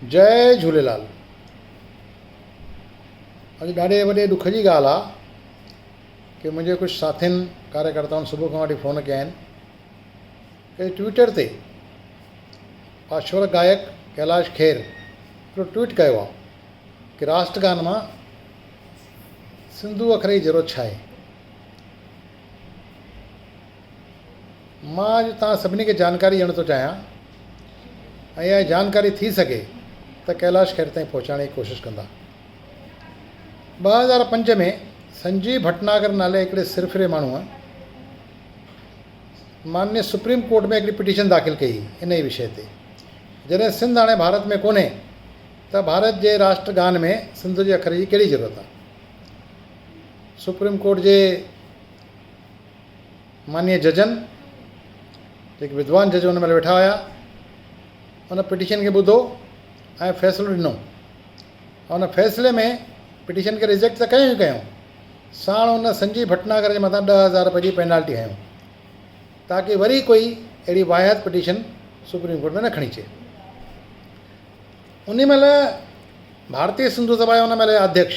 جئي جهوليلال اڄ ڏاڍي وڏي ڏک جي ڳالهه آ ڪي منهنجي ڪجهه ساٿين ڪاريڪرتائن صبح کان وٺي فون ڪيا آهن ڪي ٽوئيٽر تي پاشور گائڪ ڪيلاش کير هڪڙو ٽوئيٽ ڪيو آ ڪي راسٽ گان مان سنڌو اکري جيرو ڇاهي مان اڄ توهان سڀني کي جانڪاري ڏيڻ ٿو چاهيان ۽ اها جانڪاري ٿي سگهي ته ڪيلاش کير تائين پهچائڻ جي ڪوشش ڪندا. ٻه هزار پنج ۾ سنجيو ڀٽناگر نالي هڪڙي سرڦري ماڻهوء مانيء سپريم ڪورٽ ۾ هڪڙي پٽيشن داخل ڪئي هئي ان ئي وشي تي. جڏهن سنڌ هاڻي ڀارت ۾ ڪونهي ته ڀارت جي راشٽر گان ۾ سنڌو جي اکر جي ڪهڙي ضرورت آهي. سپريم ڪورٽ جي مانيء ججن، جيڪي ودوان جج ان مهل ويٺا هيا، ان پٽيشن کي ٻڌو ۽ فيصلو ڏنو. ان فيصلي ۾ پٽيشن کي ريجيڪٽ ته ڪيو ئي ڪيو، ساڻ ان سنجي ڀٽناگر جي مٿان ڏهه هزار رپئي جي پينالٽي هنيو، تاڪي وري ڪوئي اهڙي واهيات پٽيشن سپريم ڪورٽ ۾ نه کڻي اچي. ان مهل ڀارتي سنڌو سڀا جا ان مهل جا اڌيڪش،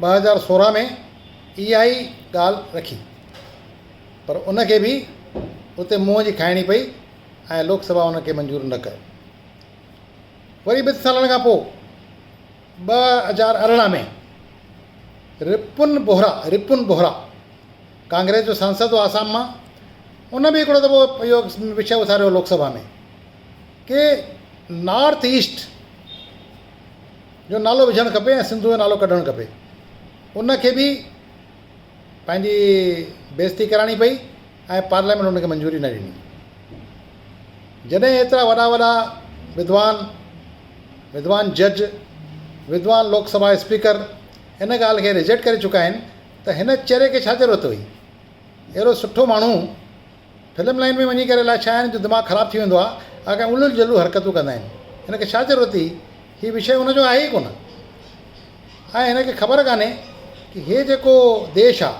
ٻه هزار سورهن ۾ اها ئي ڳالهه رکي پر ان کي به اتي منهن جي کائڻي پئي ۽ لوڪ سڀا ان کي منظور نه ڪيو. وري ٻن سالن کان پوء ٻه هزار ارڙهن ۾ رپن بوهرا Ripun Bohra ڪانگريس جو سانسد هو آسام مان ان به هڪڙو دفعو اهو وشي اٿاريو لوڪ سڀا ۾ ڪي نارٿ ايسٽ جو نالو وجهڻ کپي ۽ سنڌو جو نالو ڪڍڻ کپي ان کي به پنهنجي بيزتي ڪرائڻي پئي ۽ پارليامينٽ ان کي منظوري نه ڏني جڏهن ايترا وڏا وڏا وڌوان وڌوان جج وڌوان لوڪ سڀا اسپيڪر ان ڳالهه کي رجيڪٽ ڪري چڪا آهن ته هن چري کي ڇا ضرورت هئي اهڙو سٺو ماڻهو فلم لائين ۾ وڃي ڪري الاء ڇا هن جو دماغ خراب ٿي ويندو آهي اهي ڪا الو جلو حرڪتون ڪندا آهن هن کي ڇا ضرورت هئي هي وشيه هن جو آهي ئي ڪونه ۽ هن کي خبر ڪانهي ته هي جيڪو ديش آهي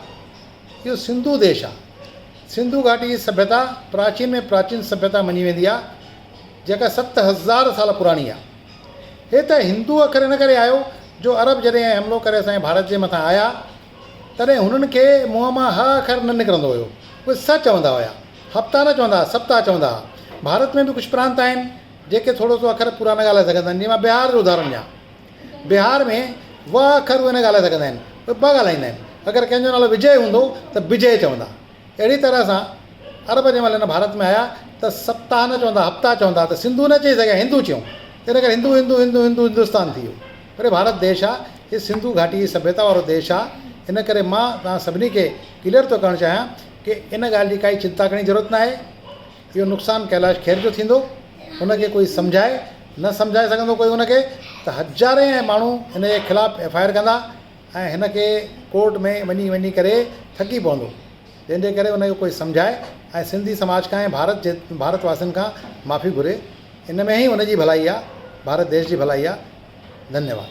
اهو سنڌو ديش آهي سنڌو گهاٽي جي سڀيتا پراچين ۾ پراچين سڀيتا مڃي ويندي آهي جيڪا ست هزار سال پراڻي آهي هي ته هندو اکر ان ڪري آهيو جو عرب جڏهن حملو ڪري اسان جي ڀارت جي مٿان آيا تڏهن هنن کي منهن مان ه اکر نه نڪرندو هيو. اهي سه چوندا هيا. هپتا نه چوندا ها، سپتا چوندا ها. ڀارت ۾ به ڪجهه پرانت آهن، جيڪي ٿورو سو اکر پورا نه ڳالهائي سگهندا آهن. جيئن مان بهار جو اداهرڻ ڏيان. بهار ۾ و اکر اهي نه ڳالهائي سگهندا آهن. اهي ٻه ڳالهائيندا آهن. اگر ڪنهن جو نالو وجئه هوندو ته بجئه چوندا. اهڙيء طرح سان عرب جنهن مهل هن ڀارت ۾ آيا ته سپتاهه نه چوندا ها، هپتا چوندا ها ته سنڌو نه چئي سگهيا، هندو چيائون. تنهن ڪري هندو هندو هندو هندو هندستان ٿي ويو. پر ڀارت ديش آ، هي سنڌو گهاٽي جي سڀيتا وارو ديش آ، ان ڪري مان توهان سڀني کي ڪليئر ٿو ڪرڻ چاهيان ڪي ان ڳالهه جي ڪائي چنتا ڪرڻ جي ضرورت ناهي، اهو نقصان ڪيلاش کير جو ٿيندو، ان کي ڪوئي سمجهائي نه سمجهائي سگهندو ڪوئي ان کي ته هزارين ۽ ماڻهو هن جي خلاف ايف آء آر ڪندا ۽ هن کي ڪورٽ ۾ وڃي وڃي ڪري ٿڪي پوندو، جنهن جي ڪري ان کي ڪوئي سمجهائي ۽ سنڌي سماج کان ۽ ڀارت جي ڀارت واسين کان معافي گهري ان ۾ هي ان جي ڀلائي آ ڀارت ديش جي ڀلائي آ ڌنيواد.